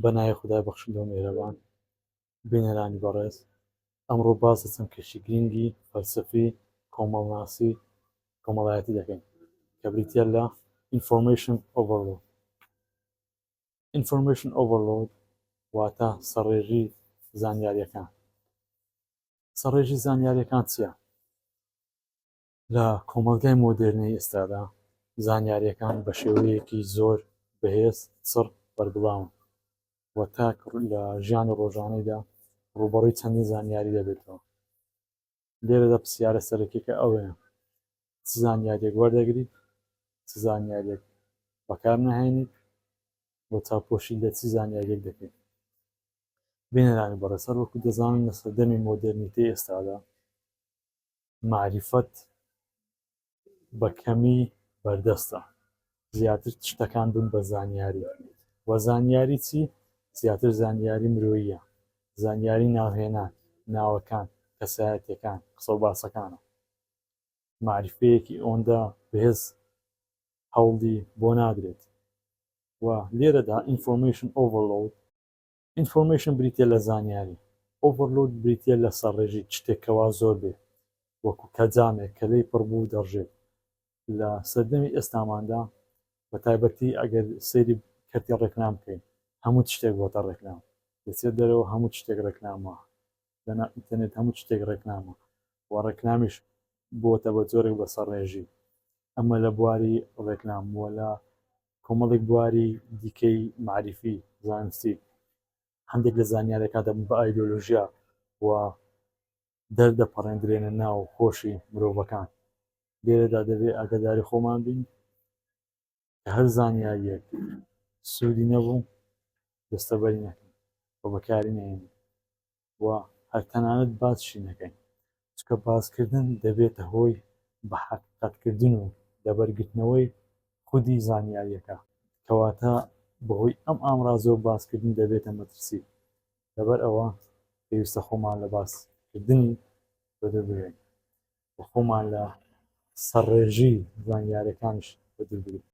بەناوی خودای بەخشندە و میهرەبان. بینەرانی بەڕێز، ئەمڕۆ باس لە چەند کێشی گرینگی فەلسەفی، کۆمەڵناسی، کۆمەڵایەتی دەکەین کە بریتییە لە Information Overload. Information Overload واتە سەڕێژی زانیارییەکان. سەڕێژی زانیارییەکان چییە؟ لە کۆمەڵگای مۆدێرنەی ئێستادا زانیارییەکان بە شێوەیەکی زۆر بەهێز چڕ بەربڵاون و تاک لە ژیانی ڕۆژانەیدا ڕووبەڕووی چەندین زانیاری دەبێتەوە لێرەدا پرسیارە سەرەکیەکە ئەوەیە چ زانیاریێک وەردەگریت چ زانیاریێک بەکار نهێنیت بۆ چاپۆشی لە چی زانیاریێک دەکەیت بینەرانی بەڕێسەر وەکو دەزانن لە سەردەمی مۆدررنیتەی ئێستادا مەعریفەت بە کەمی بەردەستە زیاتر شتەکان بن بە زانیاری وە زانیاری چی زیاتر زانیاری مرۆییە زانیاری ناوهێنان ناوەکان کەسایەتەکان قسە و باسەکانە معریفەیەکی ئەوەندە بەهێز هەوڵی بۆ نادرێت و لێرەدا ئینفۆرمشن ئۆڤەرلود ئینفۆرمەیشن بریتیە لە زانیاری، ئۆڤەرلۆد بریتیە لە سەڕێژی شتێک کە وا زۆر بێ وەکو کە جامێک کە لێی پڕ بوو دەڕژێت لە سەردەمی ئێستاماندا بە تایبەتی ئەگەر سەیری کەرتی ڕێکلام بکەین هەموو شتێک بۆتە ڕێکلام دەچێت دەرەوە هەموو شتێک ڕێکلامە دەنا ئینتەرنێت هەموو شتێک ڕێکلامە و ڕێکلامیش بۆتە بە جۆرێک بە سەڕێژی ئەمە لە بواری ڕێکلام وە لە کۆمەڵێک بواری دیکەی مەعریفی زانستی هەندێک لە زانیارەکە دەبن بە ئایدۆلۆژیا و دەردەپەڕێندرێنە ناو خۆشی مرۆڤەکان لێرەدا دەبێ ئاگداری خۆمان بین هەر زانیاریەک سوودی نەبوو دەستەبەری نەکەن بە بەکاری نێن و هەر تەنانەت باسشی نەکەین چکە باسکردن دەبێتە هۆی بە حەقیقەتکردن و لەبەرگرتنەوەی خودی زانیاریەکە کەواتە بەهۆی ئەم ئامرازەوە باسکردن دەبێتە مەترسی لەبەر ئەوە پێویستە خۆمان لە باسکردنی بەدەر بگرین خۆمان لە سەرڕێژی زانیارەکانش بەدربگرین